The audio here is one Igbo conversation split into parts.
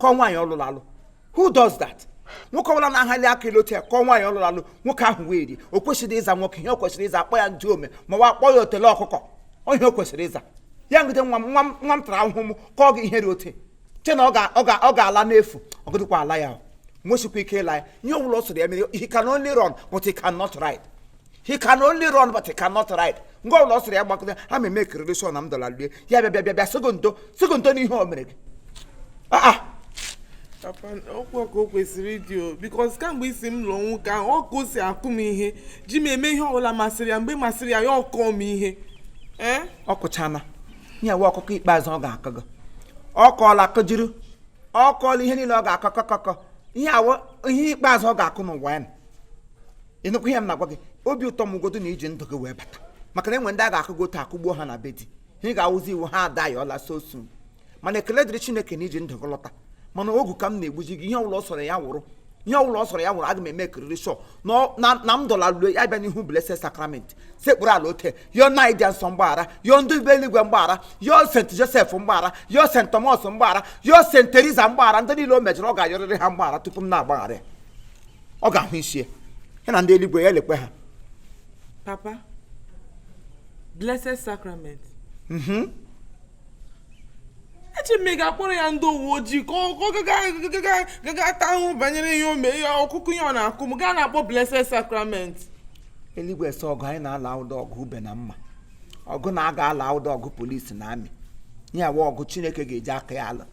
kụọ nwaanyị ọ lụlụ alụ who does that nwoke ọbụla na-ahali aka elu otu a kụọ nwaanyị ọ lụlụ alụ nwoke ahụ wee rie o kwesịrị ịza nwoke ihe o kwesịrị ịza a kpọọ ya ndị ome ma ọ wụ a kpọọ ya otele ọkụkọ ọ ihe o kwesịrị ịza ya ngide nwa m tara ahụhụ m kụọ gị ihe dị otu chee na ọ ga-ala n'efu ọ gadịkwa ala ya o. nwesikwa ike ịla ya ihe ọbụla ọ sọrọ ya mere he can only run but he cannot ride he can only run but he cannot ride nga ọbụla ọ sọrọ ya gbakọta aga m emekiriri sure na m dọla lie ya bịa sị gị ndo n'ihe o mere gị Ah, ah. papa ọ kwa ka o kwesịrị ịdị o because kamgbe isi m lụọ nwoke ahụ ọ ka o si akụ m ihe ji m eme ihe ọbụla masịrị ya mgbe masịrị ya ya akụọ m ihe ee ọ kụchana ihe a wụ ọkụkụ ikpeazụ ọ ga-akụ gị ọ kụọla akụjuru ọ kụọla ihe niile ọ ga-akụ kụkụkụ ihe a wụ ihe ikpeazụ ọ ga-akụ n'ụwa ya ịnụkwa ihe m na-agwa gị obi ụtọ m godu na i ji ndụ gị wee bata maka na e nwe ndị a ga-akụgo otu a kụgbuo ha na be di ha ị ga-awụzi iwu ha ada ya alaa so soon mana ekele dịrị chineke na i ji ndụ gị lọta mana ogu ka m na-egbuji gị ihe ọbụla ọ sọrọ ya wụrụ ihe ọbụla ọ sọrọ ya wụrụ aga m emekiriri sure na m dọla lue ya bịa n'ihu blessed sacrament sekpuru ala otu a yọọ nna dị nsọ mgbaghara yọọ ndị be eluigwe mgbaghara yọọ Saint Joseph mgbaghara yọọ Saint Thomas mgbaghara yọọ Saint Teresa mgbaghara ndị niile o mejọrọ ọ ga-ayọrịrị ha mgbaghara tupu m na-agbaghara ya ọ ga-ahụ isi ya ya na ndị eluigwe ya elekwe ha papa blessed sacrament mhm. eche m ị ga-akpọrọ ya ndị uwe ojii ka ọ gaga taa ahụhụ banyere ihe o mee ya ọkụkụ ihe ọ na-akụ m gị ana-akpọ blessed sacrament eluigwe so ọgụ anyị na-alụ awụdị ọgụ ube na mma ọgụ a na-aga alụ awụdị ọgụ police na army ya wụ ọgụ chineke ga-eji aka ya alụ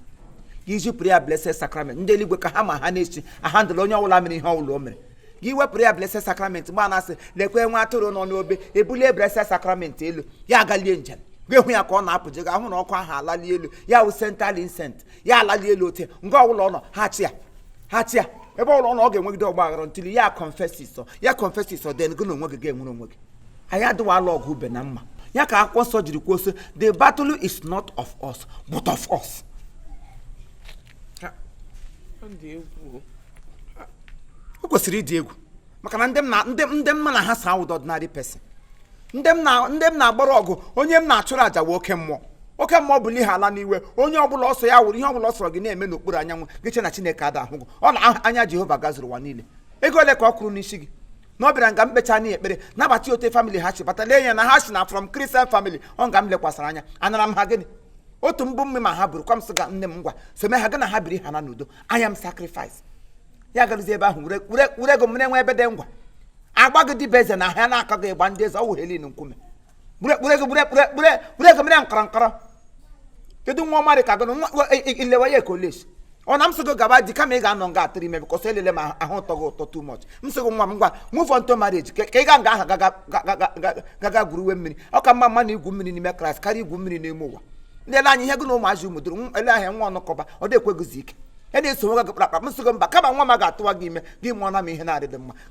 gị zipụrụ ya blessed sacrament ndị eluigwe ka ha ma ha na-esi ahandle onye ọbụla mere ihe ọbụla o mere gị wepụrụ ya blessed sacrament mgbe a na-asị lekwe nwa atụrụ nọ n'obe ebulie blessed sacrament elu ya agalie njem gị hụ ya ka ọ na-apụje ị ga-ahụ na ọkụ ahụ alali elu ya wụ central incense ya alali elu otu a nga ọbụla ọ nọ ha chi ya ha chi ya ebe ọbụla ọ nọ ọ ga-enwegide ọgba aghara until ya confess ya confess then gị na onwe gị ga-enwere onwe gị anyị adịwa alụ ọgụ ube na mma ya ka akwụkwọ nsọ jiri kwuo sị the battle is not of us but of us o kwesịrị ịdị egwu maka na ndị mụ na ha so awụdị ordinary person ndị m na-agbara ọgụ onye m na-achụrụ àjà wụ oke mmụọ oke mmụọ bụ n'ihe ala n'igwe onye ọbụla ọ sọ ya wụrụ ihe ọbụla ọ sọrọ gị na-eme n'okpuru anyanwụ gị chee na Chineke ada ahụ gị ọ na anya Jehova gazuru ụwa niile ego ole ka ọ kwụrụ n'isi gị na ọ bịara nga m kpecha na ekpere na-abata otu family ha si bata lee anya na ha si na from Christian family ọ nga m lekwasara anya anara m ha gịnị otu mbụ mme ma ha bụrụ kwa m sị gị nne m ngwa some ha gị na ha biri ha na n'udo I am sacrifice ya garuzie ebe ahụ were ego m na-enwe ebe dị ngwa agba gị dịbe eze na ha na-akọ gị ịgba ndị eze ọ wụ helin nkume gbure gbure gị gbure gbure gbure gbure gị mere nkọrọ nkọrọ kedu nwa ọma dị ka gị na nwa nwa- i- i- ilewa ya college ọ na m sị gị gaba di kama ị ga-anọ nga atụrụ ime because elele ma ahụ ụtọ gị ụtọ too much m sị gị nwa m ngwa move on to marriage ka ka ị ga nga ahụ gaga gaga- gaga- gaga gwuruwe mmiri ọ ka mma mma na igwu mmiri n'ime Kraịst karịa igwu mmiri n'ime ụwa ndị ele anya ihe gị na ụmụazị ụmụ duru nwa- ele ahịa nwa ọnụkọba ọ dị ekweghịzi ike ya na-eso nwa gị kpakpa m sị gị mba kama nwa m a ga-atụwa gị ime gị mụọ na m ihe na-adịghị mma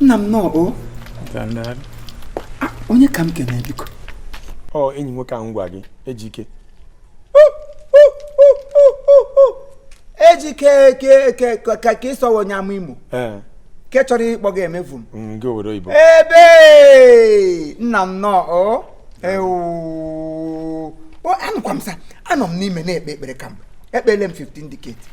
nna m nnọọ o onye ka m kene biko ọ enyi nwoke ahụ m gwa gị Ejike Ejike ka ị sị ọ wụ onye Amaimo ke chọrọ ịkpọ gị emevu m ebe nna m nnọọ o anụkwa m sa anọ m n'ime na-ekpe ekpere kamgbe ekpele m 15 decades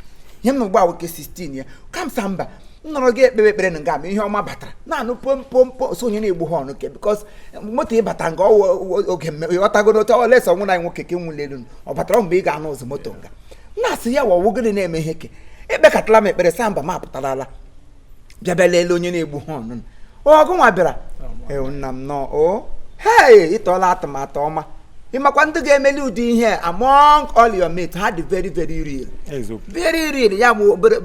ihe m nọ ugbu a wụ ke 16 ya ka m sa mba m nọrọ ga ekpe ekpere na nga ma ihe ọma batara na-anụ pompompo sị onye na-egbu horn ke because moto ịbata nga ọ wụ oge mme ị ghọtago n'otu ọ lesa ọnwụ na nwoke ke nwụli elu ọ batara mgbe ị ga-anụ ụzụ moto nga m na-asị ya wọ ọ wụ gịnị na-eme ihe ke ekpekatala m ekpere sa mba m apụtarala bịa bịa lelee onye na-egbu horn ọ gị nwa bịara ewu nna m nnọọ o hei ị tụọla atụmatụ ọma ị makwa ndị ga-emeli ụdị ihe a, among all your mates ha dị very very rare eziokwu very rare ya bụ obere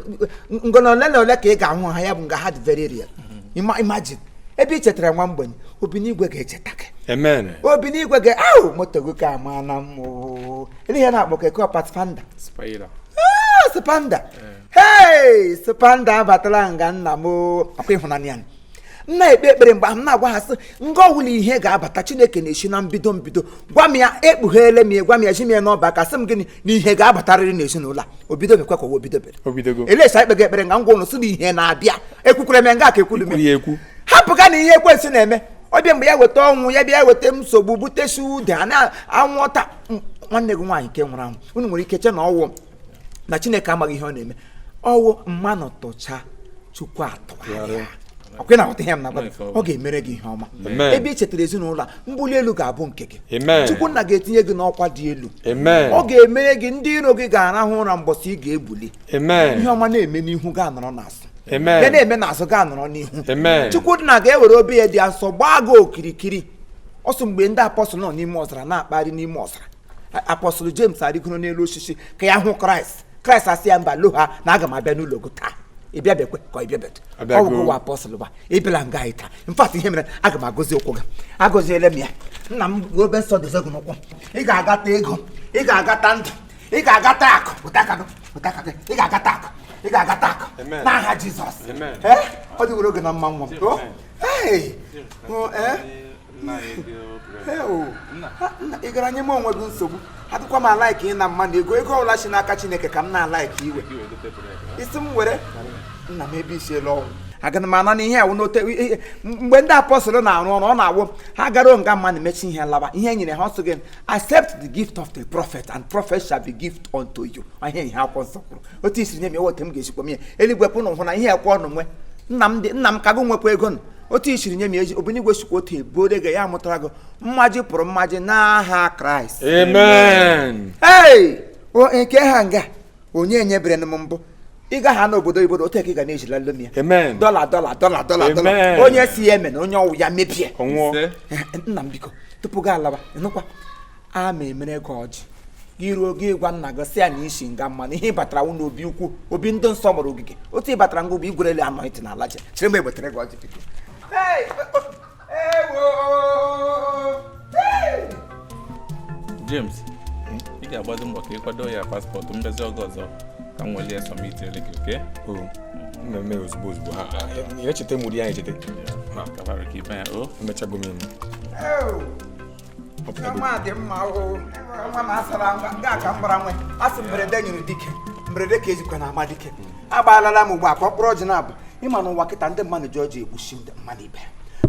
ngona ole na ole ka ị ga-ahụ ha ya bụ nga ha dị very rare Ima- imagine ebe i chetara nwa mgbenye Obinigwe ga-echeta gị amen Obinigwe ga ahụ moto gị ke a amana mma o olee ihe a na-akpọ ka eko Pathfinder Spider. Spider hei Spider abatala nga nna m ọ kwa ịhụnanya ya m na-ekpe ekpere mgbe ahụ m na-agwa ha sị nga ọ wụla ihe ga-abata Chineke na-esi na mbido mbido gwa m ya ekpugheele m ya gwa m ya ji m ya n'ọba aka sị m gịnị na ihe ga-abatarịrị n'ezinụlọ a obido mekwa ka obido bere obidogo elesa ikpe ga ekpere nga ngwa unu sị na ihe na-abịa ekwukwere m ya nga ka ekwulu m kwuru ya ekwu hapụga na ihe ekwensu na-eme ọ bịa mgbe ya weta ọnwụ ya bịa weta nsogbu butesi ude a na-anwụọta nwanne gị nwaanyị nke nwụrụ anwụ unu nwere ike che na ọ wụ na Chineke amaghị ihe ọ na-eme ọ wụ mmanụ tụcha Chukwu atụgharịa okwe na ihe m na ọ ga-emere gị ihe ọma ebe ị chetara ezinụlọ a mbuli elu ga-abụ nke gị Chukwu nna ga-etinye gị n'ọkwa dị elu ọ ga-emere gị ndị iro gị ga-arahụ ụra mbọsị ị ga-ebuli ihe ọma na-eme n'ihu gị anọrọ n'azụ ya na-eme n'azụ gị anọrọ n'ihu Chukwu nna ga-ewere obi ya dị asọ gbaa gị okirikiri ọ sị mgbe ndị apọstụl nọ n'ime ọzara na-akpagharị n'ime ọzara apọstụl James arịgoro n'elu osisi ka ya hụ kraịst kraịst asị ya mba loha na aga m abịa n'ụlọ gị taa ịbịa bekwe ka ịbịa betụ ọ bụ ụwa apọstụl ba ịbịala nga anyị taa in fact ihe mere aga m agọzi ụkwụ gị agọziele m ya nna m obe nsọ dozie gị n'ụkwụ ị ga-agata ego ị ga-agata ndụ ị ga-agata akụ pụta aka gị pụta aka gị ị ga-agata akụ ị ga-agata akụ n'aha jizọs ọ dịwara gị na mma nwa m ị gara nye m onwe gị nsogbu adịkwa m alaik ịna mmadụ ego ego ọbụla si n'aka chineke ka m na-alaik iwe isi m were nna m ebe isi elu ọnwụ agana m ana na ihe awụ n'ote mgbe ndị apọstụl na-arụ ọrụ ọ na-awụ ha gara nga mmanụ mechi ihe lawa ihe nyere ha ọ sị gị accept the gift of the prophet and prophet shall be gift unto you ihe ihe akwụkwọ nsọ kwuru otu i siri nye m wụ otu m ga-esikwa nye eluigwe pụnụ hụ na ihe ekwe ọnụ nwe nna m dị nna m ka gị nwekwa ego nụ otu i siri nye m eze obinigwe sikwa otu ebuode gị ya mụtara gị mmaji pụrụ mmaji n'aha kraịst amen ei o nke ha nga onye nyebere m mbụ ị gaha n'obodo oyibo otu a ka ị ga na-ezilara m ya amen dọla dọla dọla dọla dọla Amen. onye sị ya emena onye ọ wụ ya mebie ọ nwụọ Ise. Eh, nna m biko tupu gị alaba ịnụkwa a ma emere gị ọjị gị ruo gị gwa nna gị sị ya na i si nga mmanụ ihe ịbatara wụ n'obi ukwu obi ndị nsọ gbara ogige otu ị batara ngwa bụ igwerele anọ ntị n'ala je chere m egbetere gị ọjị biko James ị ga-agbado mbọ ka ị kwado ya paspọtụ mbezi oge ọzọ ka m welie sọmiti ele gị oke mmemme ozugbo ozugbo ha echeta mụrụ ya echeta ka ibe ya o emechago m eme dị mma nwa m asara ngwa nga ka m gbara nwe a sị mberede nyiri dike mberede ka e jikwa na-ama dike agbalịala m ugbu a ka ọkpụrụ ọjị naabọ ị ma na ụwa kịta ndị mmadụ ji ọjị egbuchi ndị mmadụ ibe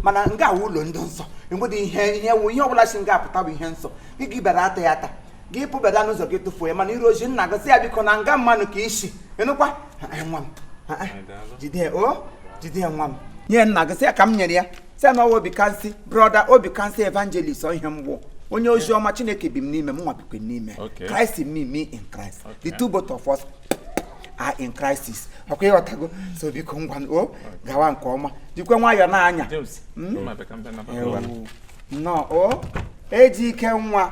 mana nga awụ ụlọ ndị nsọ enwedị ihe ihe wụ ihe ọbụla si nga apụta bụ ihe nsọ gị gị bịara ata ya ata gị pụbada n'ụzọ gị tụfuo ya mana i ruo zi nna gị sị ya biko na nga mmanụ ka i si ịnụkwa nwa m jide ya o jide ya nwa m nye nna gị sị ya ka m nyere ya sị na ọ wụ Obikansi brọda Obikansi evangelist ihe m wụ onye ozi ọma chineke bi m n'ime mụnwa bikwa ya n'ime Okay. christ in me me in christ the two both of us are in crisis ọ kwa ị ghọtago so biko ngwa n- o gawa nke ọma jikwa nwayọọ na-anya James, ma bịa ka m bịa nabata. Ewu. nnọọ o eji ike nwa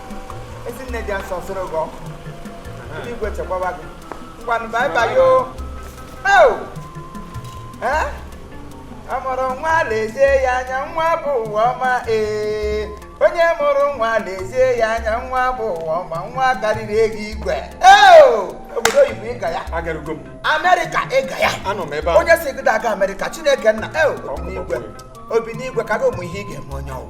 ezi nne dị nsọ soro gị ọkụ ndị igwe chekwaba gị ngwanụ bye bye o o ee a mụrụ nwa lezie ya anya nwa bụ ụwa ọma ee onye mụrụ nwa lezie ya anya nwa bụ ụwa ọma nwa karịrị ego igwe ee obodo oyibo ịga ya agarugo m amerịka ịga ya anọ m ebe ahụ onye sị gị aga amerịka chineke nna ee obi n'igwe obi n'igwe ka gị ụmụ ihe ị ga-eme onye ọ wụ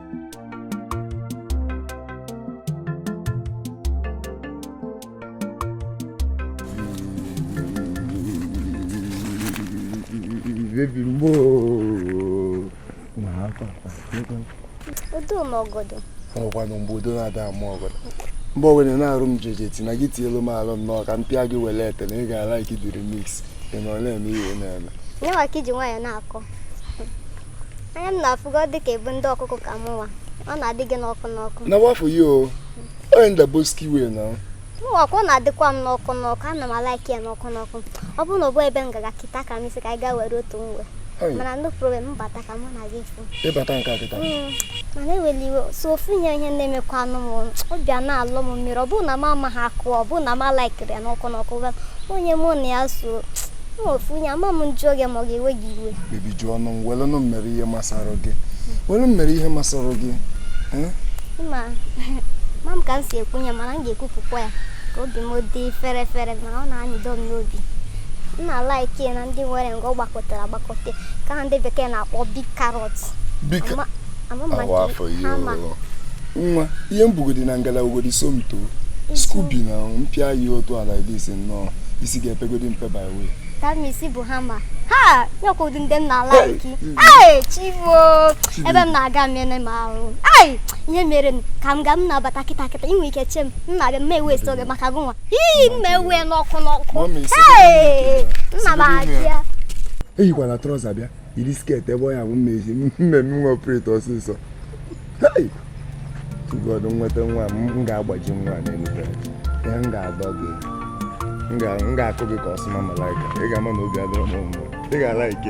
baby mo màá pàpà. odo m ọgọdọ. ọkwa na mgbe udu na-ada ama ọgọdọ mgbe ogene na-arụ m jeje ti na gị tielu m alụ m n'ọka m pịa gị wele ete na ị ga-alaiki the remix ị nọ na-eme ihe na-eme. na ị ma ka iji nwayọ na-akọ. anya m na-afụ gị dị ka ị bụ ndị ọkụ ọkụ ka mụnwa ọ na-adị gị n'ọkụ n'ọkụ na wa for you o onye ndaboski wee na mụnwakwa ọ na-adịkwa m n'ọkụ n'ọkụ ana m alaiki ya n'ọkụ n'ọkụ ọ bụrụ na ọ bụ ebe m ga-aga kịta ka m isi ka anyị gaa were otu nwe mana no problem m bata ka mụ na gị fụ ịbata nke a kịta mana ewela iwe sọ ofu ihe ihe na-emekwanụ m ọ bịa na-alụ m mmiri ọ bụrụ na m amaghị akụ ọ bụrụ na m alaikiri ya n'ọkụ n'ọkụ onye mụ na ya so ofu ihe ama m m jụọ gị ma ọ ga-ewe gị iwe baby jụọnụ m welụnụ m mere ihe masara gị welu m mere ihe masara gị eh? ma ama m ka m si ekwu ya mana m ga-ekwupụkwa ya ka obi m dị fere fere mana ọ na-anyịdo m n'obi ma ị na-alaiki na ndị nwere ngwa ọ gbakọ gbakọtara agbakọta nke a ndị bekee na-akpọ big carrot nwa ihe m bugodi na ngala ugodi somto skubi na m pịa gị otu ala idis nnọọ isi ga-epegodi mpe by way tamisi bụ hammer ha nyekwụdị ndị m na-alaiki ee chibo ebe m na-aga mmene m ahụ ai ihe mere m ka m gaa m na-abata kịta kịta i nwee ike che m m na-abịa m ma ewesi oge maka gụnwa iyi mme uwe n'ọkụ n'ọkụ nna m abịa eyikwana trouser bịa yiri skirt ebe ọ ya-abụ m mezie mmemme nwa operate ọsịsọ to God nweta nwa m ga-agbaji nwa n'elute ya m ga-adọ gị m ga-akụ gị ka Osuma Malaika ị ga-ama na obi adịrọ m mma ị ga-alaiki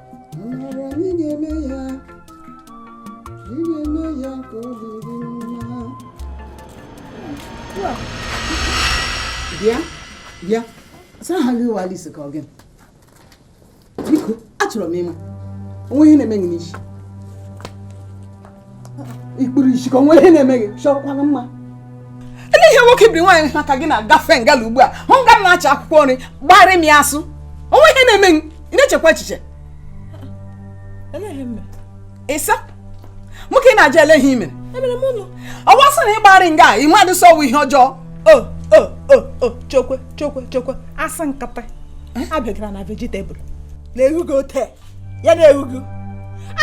bịa bịa a sị aha gị wụ Alice ka ọ gị biko achọrọ m ịma o nwe ihe na-eme gị n'isi i kpuru isi ka o nwe ihe na-eme gị chọkwana mma ele ihe nwoke biri nwaanyị ha ka gị na-agafe ngala ugbu a hụ nga m na-acha akwụkwọ nri gbarị m ya asụ o nwe ihe na-eme gị ị na-echekwa echiche ịsa nwoke na-ajụ ele ihe i mere ọ wụ asụ na ị gbarị nga a ị madị sị ọ wụ ihe ọjọọ o o o o chokwe chokwe chokwe asị nkata abịagara na vegetable na-erugo taa ya na-ewu gị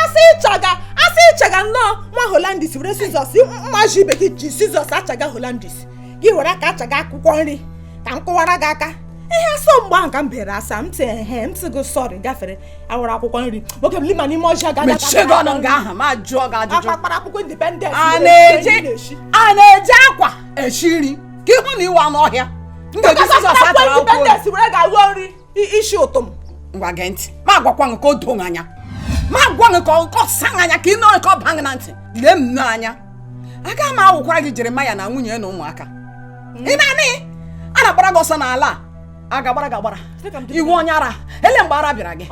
asị ịchaga asị ịchaga nnọọ nwa holandis were sizọs mmadụ ibe gị ji sizọs achaga holandis gị were aka achaga akwụkwọ nri ka m kụwara gị aka ihe asọ mgbe ahụ ka m bere asa m tị he m tị gị sọrị gafere awara akwụkwọ nri nwoke m lima n'ime ọjọọ gada mechie gị ọnụ nga ahụ ma jụọ gị ajụjụ akpakpara akwụkwọ indipendent a na-eji akwa esi nri ka ihi na ị wụ anụ ọhịa m ga-eji sizọs achara akwụkwọ nri isi ụtọ m ngwa gee ntị ma agwakwa gị ka o doo anya ma agwa gị ka ọ sa anya ka ị nụrụ ka ọ baa gị na ntị lee m n'anya aga m awụkwara gị Jeremaya na nwunye na ụmụaka mm. ị na-anị a na-agbara gị ọsọ n'ala a a ga-agbara gị agbara ị wụ onye ara ele mgbe ara bịara gị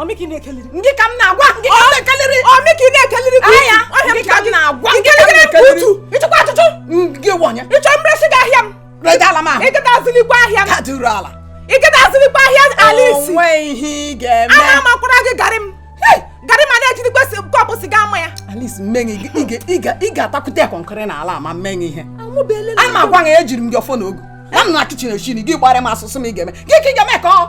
ndị ka m na-agwa ndị ka m na-ekeliri anya ndị ka m na-agwa ndị ka m na-ekeliri ị chọkwa achọchọ gị wụ onye ị chọ m resị gị ahịa m redala m ahụ ịgada azụlikwa ahịa ka duru ala ịgada azụlikwa ahịa Alice o nwe ihe ị ga-eme a na-amakwara gị garị m garị mana ejidikwa kọpụ siga ama ya Alice m mee gị ị ga-atakwute ya kọnkịrị n'ala ma m meghị ihe a ma gwa ya ejiri m gị ọfọ na ogu nọ m na kichin eshi nri gị gbara m asụsụ m ị ga-eme gị ka ị ga-eme ka ọ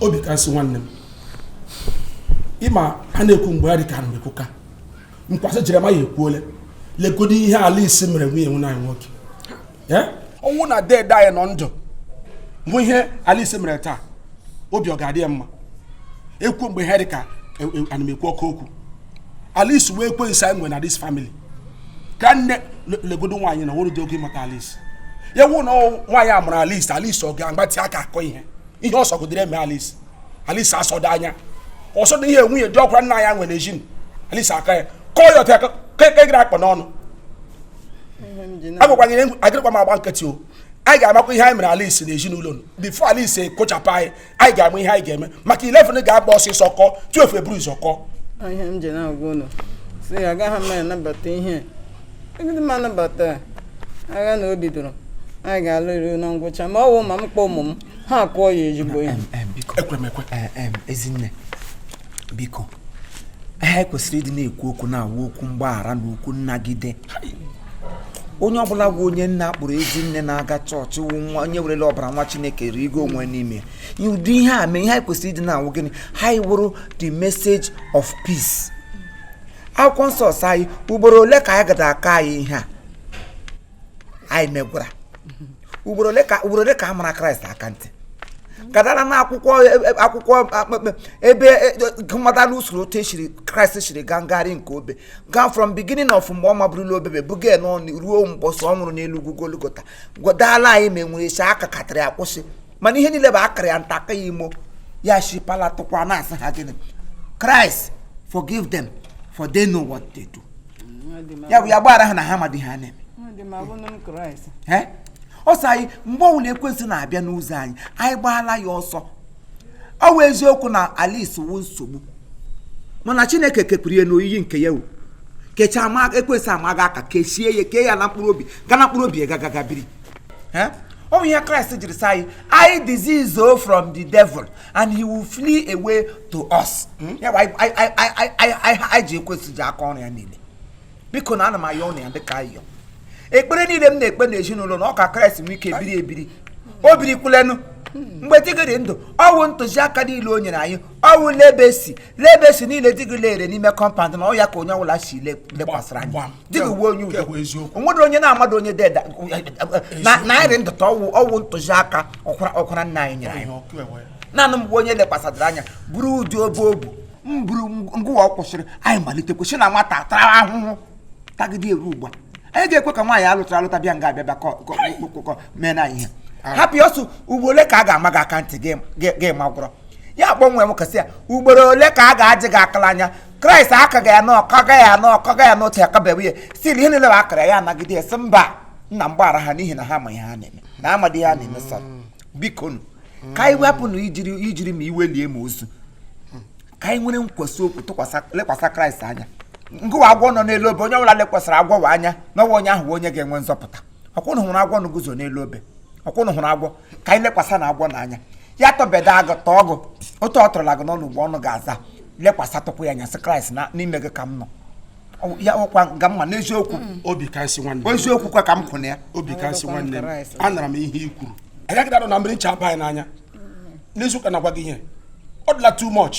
obi ka nsị nwanne m ị ma a na-ekwu mgbe ya dị ka ana m ekwu ka m kwasị Jeremaya ekwuole legodo ihe Alice mere nwunye nwanne anyị nwoke ọ wụ na deede anyị nọ ndụ hụ ihe Alice mere taa obi ọ ga-adị ya mma ekwu mgbe ha dị ka e, e, ana m ekwu oke okwu Alice wee kwe nsa enwe na this family ka nne legodo nwaanyị na o rurudị ogo ịmụta Alice ya wụ na nwaanyị a mụrụ Alice Alice ọ ga-agbatị aka akụ ihe ihe ọ sọgodere eme Alice Alice asọdị anya ọ sọdị ihe nwunye diọkwara nna ya nwere ejin Alice aka ya kụọ ya ọtọ ya kekegịrị akpa n'ọnụ agwakwanyere agaghịkwa m agba nkịtị o anyị ga-amakwa ihe anyị mere Alice n'ezinụlọ before Alice ekpochapụ anyị anyị ga-ama ihe anyị ga-eme maka 11 ga-agba ọsịsọ kụọ 12 eburu ụzọ kụọ ihe m ji na-agwa ụnụ sị agaghị m anabata ihe agadị m anabata agha na o bidoro anyị ga-alụru na ngwụcha ma ọ wụ ma m kpọọ ụmụ m ha akụọ ya ezigbo ihe Ezinne biko anyị kwesịrị ịdị na-ekwu okwu na-awụ okwu mgbaghara na okwu nnagide onye ọbụla bụ onye a na-akpọrọ ezinne na-aga chọọchị wụ nwa onye werele ọbara nwa Chineke rigo onwe n'ime ụdị ihe a mee ihe anyị kwesịrị ịdị na-awụ gịnị anyị wụrụ the message of peace akwụkwọ nsọ sị anyị ugboro ole ka anyị gada aka anyị ihe a anyị megwara ugboro ole ka ugboro ole ka a mara kraịst aka ntị gadara na akwụkwọ e, e, akwụkwọ e, ebe gụmadala usoro otu esiri kraịst siri gaa ngagharị nke obe gaa from beginning of mgbe ọ maburula obebe buga n'ọnụ ruo mbọsị ọ nwụrụ n'elu ugwu golgota gwadala anyị ma enwere esi aka katara ya kwụsị mana ihe niile bụ akara ya nta aka ya imo ya shipala tụkwa na-asị ha gịnị kraịst forgive them for they know what they do ya bụ ya gbaghara ha na ha amadị ihe ha na-eme ọ sị anyị mgbe ọbụla ekwensị na-abịa n'ụzọ anyị anyị gbaala ya ọsọ ọ wụ eziokwu na Alice wu nsogbu mana Chineke kepụrụ ya n'oyiyi nke ya wu kechaa ma ekwensị amaghị aka kechie ya kee ya na mkpụrụ obi ga na mkpụrụ obi ya gaa ga biri ọ bụ ihe Kraịst jiri sị anyị anyị desist from the devil and he will flee away to us hmm? ya bụ anyị jụ ekwensị jụ aka ọrụ ya niile biko na ana m ayọ unu ya dịka ayọ ekpere niile m na-ekpe na ezinụlọ na ọ ka kraịst nwee ike ebiri ebiri o biri kwulenu mgbe di gị dị ndụ ọwụ ntụziaka niile o nyere anyị ọwụ legacy legacy niile di gị lere n'ime compound na ọ ya ka onye ọbụla si lekwasịrị anya di gị wụ onye udo onwere onye na-amadị onye deda na anyị ndụ ta ọwụ ọwụ ntụziaka ọkpara nna anyị nyere anyị naanị mgbe onye lekwasịrị anya buru ụdị obe o bu mbụrụ ngụwa kwụsịrị anyị malitekwa si na nwata tara ahụhụ tagide eruo ugbu a anyị ga-ekwe ka nwaanyị alụtara alụta bịa nga abịa bịa mee na ihe hapụ ya ọsọ ugboro ole ka a ga-ama gị aka ntị gị magwara ya kpọnwee m kasị ya ugboro ole ka a ga-ajị gị akala anya kraịst akaghị ya na ọkaga ya na ọkaga ya na otu akabeghị ya still ihe niile bụ akara ya anagide ya sị mba nna m gbaghara ha n'ihi na ha ma ihe ha na-eme na amadị ihe ha na-eme so bikonụ ka anyị wepụ na ijiri ijiri ma iwe lie ma ozu ka anyị nwere nkwesị okwu tụkwasị lekwasị kraịst anya ngụwa agwọ nọ n'elu obe onye ọbụla lekwasịrị agwọ ahụ anya na ọ wụ onye ahụ bụ onye ga-enwe nzọpụta ọkwa unu hụrụ agwọ na-eguzo n'elu obe ọkwa unu hụrụ agwọ ka anyị lekwasa na agwọ n'anya ya tụbeda gị tụọ gị otu ọ tụrụla gị n'ọnụ ugbo ọnụ ga-aza lekwasatụkwa ya anya sị kraịst n'ime gị ka m nọ ya ọkwa ga mma n'eziokwu mm. obi ka nsị nwanne eziokwu kwa ka m kwụ na ya obi ka nsị nwanne m anara m ihe i kwuru anyị agadị anọ na mmiri ncha abaa anyị n'anya mm. n'eziokwu na-agwa gị ihe ọ dịla too much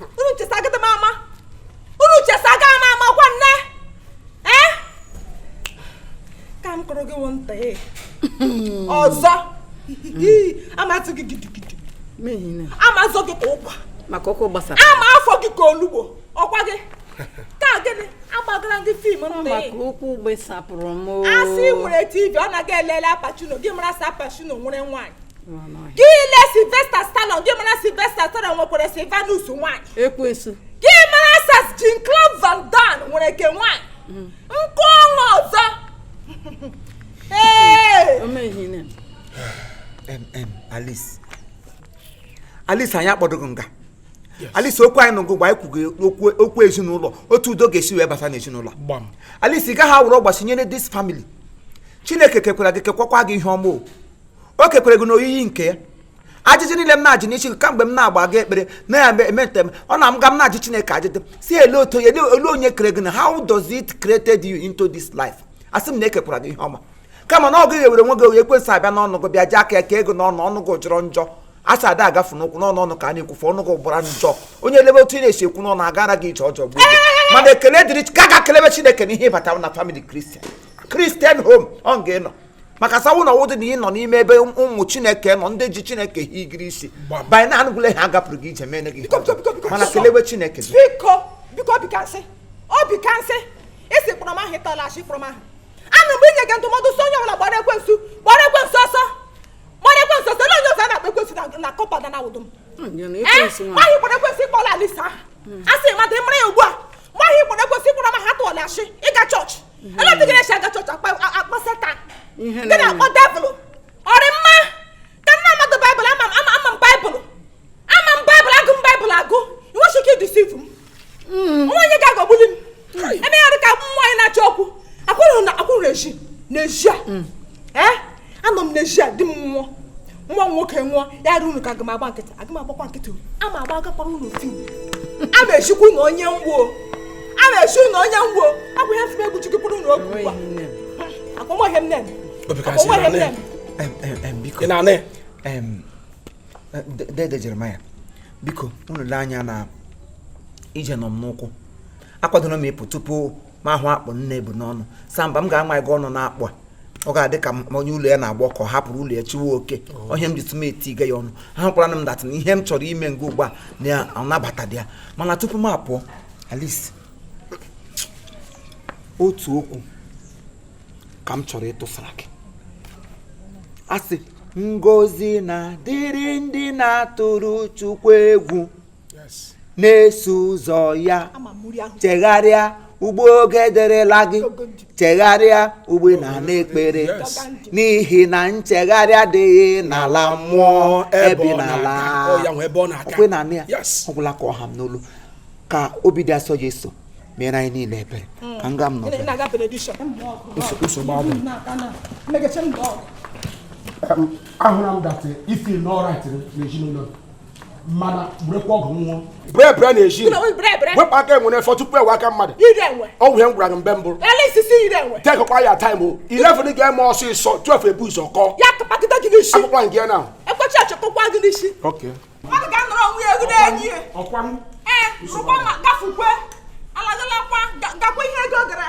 unu chesa agada m ama unu chesa aga m ama gwa nne ee ka m kọrọ gị wụ nta ee ọzọ ama azọ gị gidigidi ama azọ gị ka ụkwa maka ụkwụ gbasara ama afọ gị ka olugbo ọkwa gị ka gịnị agbagara gị film nta maka ee ụkwụ gbesapụrụ m asị nwere tv ọ na-aga elele al pacino gị mara sị al pacino nwere nwaanyị gị lee Sylvester Stallone gị mara Sylvester Stallone nwekwara Sylvanus nwaanyị ekwensu gị mara sas Jean-Claude Van Damme nwere ke nwaanyị mm. nke ọnwa ọzọ Alice Alice anyị akpọdoghị nga Alice okwu anyị na gị gba anyị kwugo okwu ezinụlọ otu udo ga-esi wee bata n'ezinụlọ Alice ị gaghị awụrụ ọgbachi nyere this family chineke kekwara gị kekwakwa gị ihe ọma o o kekwara gị n'oyiyi nke ya ajụjụ niile m na-ajụ n'isi kamgbe m na-agba gị ekpere na ya eme ntem ọ na m ga m na-ajụ chineke ajụjụ sị ele otu onye ele onye kere gị na how does it created you into this life asị m na ekekwara gị ihe ọma kama na ọ gị ewere onwe gị nye ekwensu abịa n'ọnụ gị bịa ji aka ya ka ego n'ọnụ ọnụ gị jọrọ njọ asa ada agafu n'ụkwụ n'ọnụ ọnụ ka a na-ekwufe ọnụ gị gbara njọ onye elebe otu ị na-esi ekwu n'ọnụ agara gị ije ọjọọ gbuo mana ekele dịrị ka gị kelebe chineke n'ihi ịbata na family Christian Christian home ka ị nọ maka sawu na ọ wụdị na ị nọ n'ime ebe ụmụ chineke nọ ndị ji chineke hiri isi banye na anụgụle ha gapụrụ gị ije mee gị mana kelewe chineke biko biko bikansị ọ bikansị isi kpọrọ m aha ịtọla achị kpọrọ m aha anụ mgbe inye gị ndụmọdụ sọ onye ọbụla gbara ekwensu gbara ekwensu ọsọ gbara ekwensu ọsọ na onye ọzọ na-akpọ ekwensu na kọpa na awụdụ m nwaanyị kpọrọ ekwensu ị kpọọla Alice aha a sị mmadụ ịmara ya ugbu a nwaanyị kpọrọ ekwensu ị kpọrọ m aha tụọla achị ịga chọọchị ele otu gị na-esi aga chọọchị akpọ setan gị na-akpọ devil ọ rị mma ka nna mmadụ baịbụl ama m ama m baịbụl ama m baịbụl agụ m baịbụl agụ i nweghị ike ịdeceive m hmm. o nweghị onye ga-aghọgbuli m hmm. e mee ya ọ rị ka nwaanyị na-achọ okwu akwụrụ na akwụrụ eji n'ezi a hmm. eh? anọ m n'ezi a di m nwụọ nwa m nwoke nwụọ ya rụ unu ka aga m agba nkịtị aga m agbakwa nkịtị a ma agba agakwara unu otu a ma echikwa unu onye ngwo a ma echi unu onye ngwo ọ bụ ya fụma egwu chikikwuru unu oge ugbu a akpọmọhịa m nene akpọmọhịa m nene biko ị na-anụ dede Jeremaya biko unu lee anya na ije nọ m n'ụkwụ akwadoro m ịpụ tupu m ahụ akpụ nne ebu n'ọnụ samba m ga-ama gị ọnụ na akpụ a ọ ga-adị ka onye ụlọ ya na-agba ọkụ hapụrụ ụlọ ya chụwe oke ọ ihe m jitụ m etiga ya ọnụ ahụkwara m that na ihe m chọrọ ime nga ugbu a na anabatadị ya mana tupu m apụọ Alice otu okwu ka m chọrọ ịtụsara gị a sị ngọzi na dịrị ndị na-atụrụ Chukwu egwu na-eso ụzọ ya chegharịa ugbu oge derela gị chegharịa ugbu na n'ekpere n'ihi na nchegharị adịghị n'ala mmụọ ebi n'ala okwe na anị ya ọ gwụla ka ọ ha m n'olu ka obi dị asọ Jesu meere anyị niile ebere hmm. ka nga m nọ ahụla m that ifi n'ọra n'ezinụlọ mana werekwa ọ wụ nwayọọ bere bere na e ji wepụ aka enwe n'ofe tupu ọ wụ aka mmadụ ọ wụ ihe m gwara gị mgbe mbụ take kwa your time o 11 ga-eme ọsịsọ 12 ebu ụzọ kụọ akwụkwọ nke ya na ọkwa m gafukwe alagalakwa gakwa ihe ego gara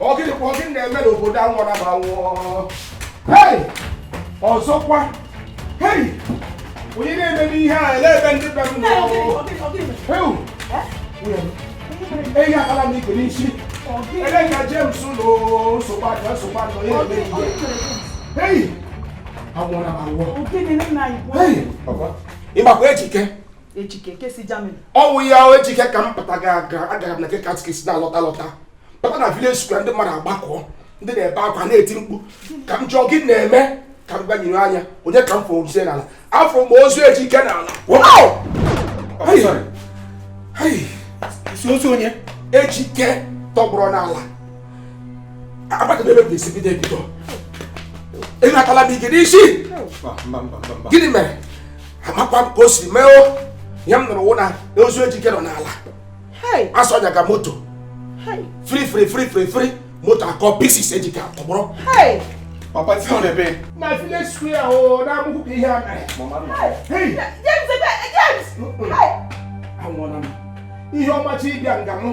ọ gịnịkwa gị na-eme n'obodo anwụna m anwụ o ọzọkwa onye na-eme ihe a ele ebe ndị be m ehi akala m ikpe n'isi ele ka James ụlọ nsogbu ajọ nsogbu ajọ ihe emee ihe anwụna m anwụ o ị makwa ejike ejike nke si Germany ọ wụ ya ejike ka m pụta ga aga agara m na nke katikis na-alọta alọta pụta na village square ndị mmadụ agbakọ ndị na-ebe akwa na-eti mkpu ka m jụọ gịnị na-eme ka m gbanyere anya onye ka m fụrụ ozu ya n'ala afụ m ozu ejike n'ala Wow! Hey, sorry. Hey, ị sị ozu onye ejike tọgbọrọ n'ala amadịghị m ebe m ga-esi bido ebido ị natala m ike n'isi mba mba mba mba mba gịnị mere amakwa m ka o si mee o ihe m nụrụ wụ na ozu ejike nọ n'ala a sị ọ nyaga moto fri fri fri fri fri moto akụọ pieces ejike atọgbọrọ Papa ti on ebe. Na village square o na mu ku ihe a mere. Mama no. Hey. James, James. Hey. Anwụna m. Ihe ọma chi bịa nga mụ.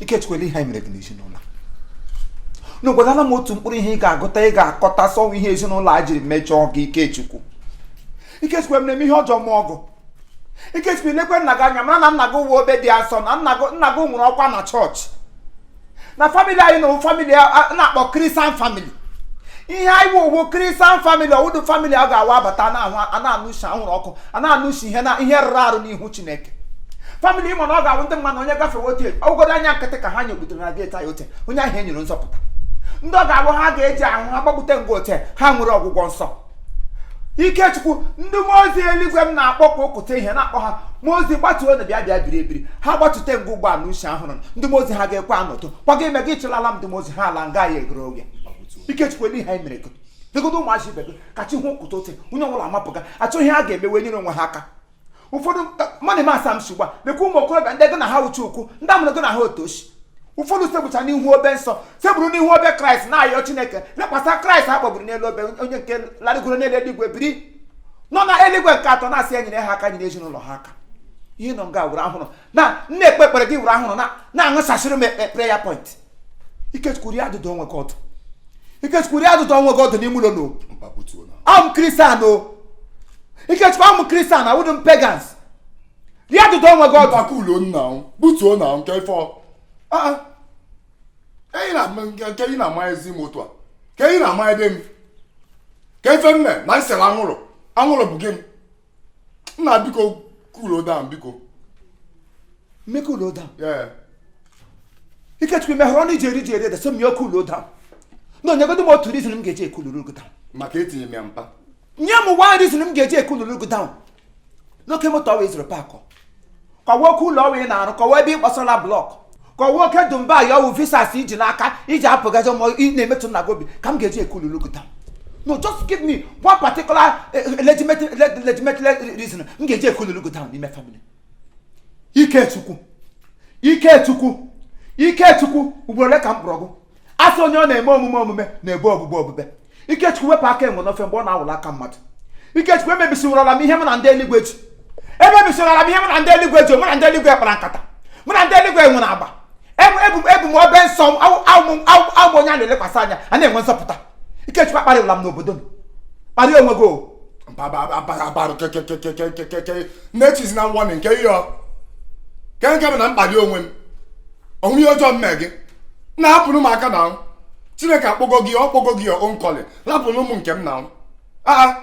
Ikechukwu ele ihe anyị mere gị n'ezinụlọ a gwagodu m otu mkpụrụ ihe ị ga-agụta ị ga-akọta sị ọ wụ ihe ezinụlọ a jiri mejọọ gị Ikechukwu Ikechukwu emere m ihe ọjọọ mụọ gị Ikechukwu ị lekwe nna gị anya mara na nna gị wụ obi dị asọ na nna gị nwere ọkwa na chọọchị na famili anyị na famili a na-akpọ kristian famili ihe anyị bụ wụ kristian famili ọ wụdị famili a ga-awụ a bata a na-anụ isi anwụrụ ọkụ a na-anụ isi ihe na ihe rụrụ arụ n'ihu chineke famili ị ma na ọ ga-awụ ndị mmadụ onye gafewe otu ọ wụgodu anya nkịtị ka ha nyekwutere na geeti anyị ote onye ahụ enwere nzọpụta ndị ọ ga-awụ ha ga-eji ahụ ha gbakwute ngwa ote ha nwere ọgwụgwọ nsọ ikechukwu ndị mmụọ ozi eluigwe m na-akpọ ka ụkụta ihe na-akpọ ha mmụọ ozi gbatuo na bịa bịa biri ebiri ha gbatute ngwa ugbuala ushi ahụrụ ndị mmụọ ozi ha ga-ekwe anọtụ kwaga ime gị ịchụlala m ndị mmụọ ozi ha ala nga ya egoro oge ikechukwu ele ihe anyị mere gị legodu ụmụazị ibe gị ka chi hụ ụkụta ote onye ọbụla amapụga achọ ihe ha ga-emewe nyere onwe ha aka ụfọdụ mmadụ ma asa m shigba lekwa ụmụ okorobịa ndị gị na ha uche ukwu ndị amụrụ gị na ha otu chi ụfọdụ sekpucha n'ihu obe nsọ sekpuru n'ihu obe kraịst na-ayọ chineke lekwasa kraịst a kpọgburu n'elu obe onye nke larịgoro n'elu eluigwe biri nọ na eluigwe nke atọ na-asị ya nyere ha aka nyere ezinụlọ ha aka ị nọ nga wụrụ ahụrụ m na-ekpe ekpere gị wụrụ ahụrụ na-aṅụsasịrị m prayer point ikechukwu rie adụdụ onwe gị ọdụ ikechukwu rie adụdụ onwe gị ọdụ n'ime ụlọ no am christian o ikechukwu am christian awụdụ m pagans rie adụdụ onwe gị ọdụ maka ụlọ nna m butuo na nke ife nke ị na-ama ezi m otu a ka ị na-ama ebe m ka ife m me na m sere anwụrụ anwụrụ bụ gịnị nna biko cool down biko me cool down yeah ikechukwu i mehere ọnụ i ji eri ji eri ede sị m ya cool down nyegodu m otu reason m ga-eji ekuluru gị down maka etinye m ya mpa nye m one reason m ga-eji ekuluru gị down n'oke moto ọwa ị zụrụ park ka ọ wụ oke ụlọ ọwa ị na-arụ ka ọ wụ ebe ị kpọsara block ka ọ wụ oke dubai ọ wụ visas i ji n'aka iji apụgazi ma ị na-emetụ nna gị obi ka m ga-eji ekululu gị down no just give me one particular eh, eh, legitimate le- legitimate le- reason m ga-eji ekululu gị down n'ime family ikechukwu ikechukwu ikechukwu ugboro ole ka m kpọrọ gị asị onye ọ na-eme omume omume na-ebe obube obube ikechukwu wepụ aka enwe n'ofe mgbe ọ na-awụla aka mmadụ ikechukwu emebisiwurala m ihe m na ndị eluigwe ji emebisiwurala m ihe m na ndị eluigwe ji mụ na ndị eluigwe kpara nkata mụ na ndị eluigwe nwere agba ebu m obe nsọ awụ m onye a na-elekwasị anya a na-enwe nzọpụta ikechukwu akparịwala m n'obodo m kparịa onwe gị na-echizi na nwa nke ihe kee ka m na-akpali onwe m o nwe ihe ọjọọ m me gị nna hapụnụ m aka na chineke akpọgo gị ọ kpọgo gị on calling rapụrụ m nke m na aa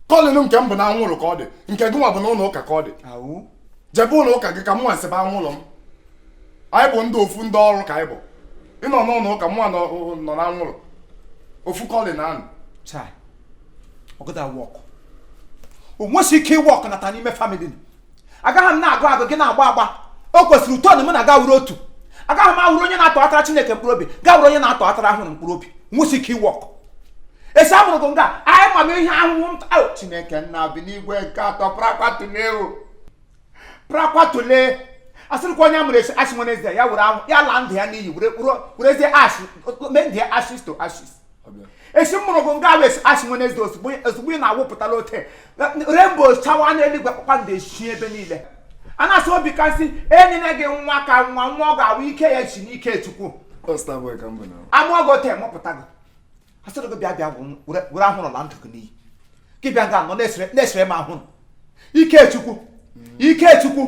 calling nke m bụ na anwụrụ ka ọ dị nke gị nwa bụ na ụlọ ụka ka ọ dị jebe ụlọ ụka gị ka mụnwa seba anwụrụ m anyị bụ ndị ofu ndị ọrụ ka anyị bụ ị nọ n'ụlọ ụka mụnwa nọ na anwụrụ ofu calling anụ o nwesi ike ịwork nata n'ime family agaghị m na-agụ agụ gị na-agba agba o kwesịrị uto na mụ na gị awụrụ otu agaghị m awụrụ onye na-atọghatara chineke mkpụrụ obi gị awụrụ onye na-atọghatara ahụrụ mkpụrụ obi o nwesi ike ịwork esi amụrụ gị nga anyị ma m ihe ahụhụ m taa chineke nna bi n'igwe nke atọ prakwatuleo prakwatule asịrịkwa onye amụrụ esi asị nwenezde ya were ahụ ya laa ndụ ya n'iyi were kpụrụ werezie ash mee ndụ ya ashes to ashes esi mụrụ gị nga ahụ Ash Wednesday ozugbo ozugbo ị na-awụpụtala ote rainbow chawa n'eluigwe kpakpando esi ebe niile a na-asị obi kasị enyere gị nwa ka nwa nwa ọ ga-awụ ike ya si n'ike chukwu amụọ gị ote mụpụta gị asịrị gị bịa bịa were anwụrụ laa ndụ gị n'iyi gị bịa nga nọ na-esere m anwụrụ Ikechukwu Ikechukwu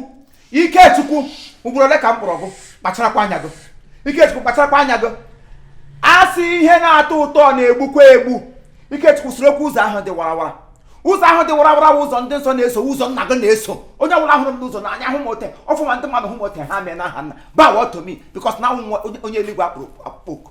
Ikechukwu ugboro ole ka m kpọrọ gị kpacharakwa anya gị Ikechukwu kpacharakwa anya gị a sị ihe na-atọ ụtọ na-egbukwa egbu Ikechukwu sorokwa ụzọ ahụ dị warawara ụzọ ahụ dị warawara ụzọ ndị nsọ na-eso ụzọ nna gị na-eso onye ọbụla hụrụ m n'ụzọ n'anya hụ m ote ọfụma ndị mmadụ hụ m ote ha mee n'aha nna bow to me because na onye eluigwe kpọrọ oku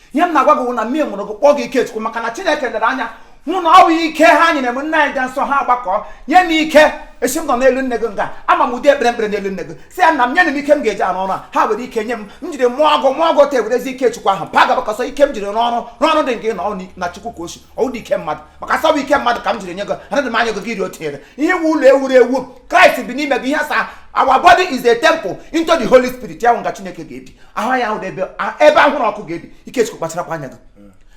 ihe m na-agwa gị na m jiri mụọ gị kpọọ gị Ikechukwu maka na Chineke lere anya hụ na ọ bụ ike ha nyere m nna anyị dị nsọ ha agbakọ nye m ike esi m nọ n'elu nne gị nga ama m ụdị ekpere m kpere n'elu nne gị sị ya nna m nye m ike m ga-eji arụ ọrụ a ha were ike nye m m jiri mụọ gị mụọ gị ta ewerezi ike chukwu ahụ pa gabakọsọ ike m jiri rụọ ọrụ dị nke nọ na chukwu ka o si ọ wụdị ike mmadụ maka sị ọ bụ ike mmadụ ka m jiri nye gị anaghị m anya gị gị iri o tinyere ihe wu ụlọ e wuru ewu kraịst bi n'ime gị ihe asaa our body is a temple into the holy spirit ya wụ nga chineke ga-ebi ahụ ya awụdị ebe ebe anwụrụ ọkụ ga-ebi ikechukwu kpacharakwa anya gị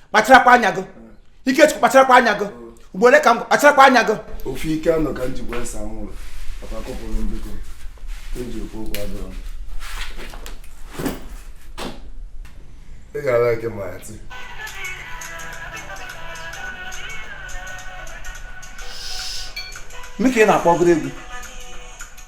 kpacharakwa anya gị ikechukwu kpacharakwa anya gị ugboro ole ka m kpacharakwa anya gị ofu ike anọ ka m ji gwa ese anwụrụ papa kọpụrụ m biko e ji ekwu okwu adọrọ ị ga-ala ike ma ya tii mme ka ị na-akpọgoro egwu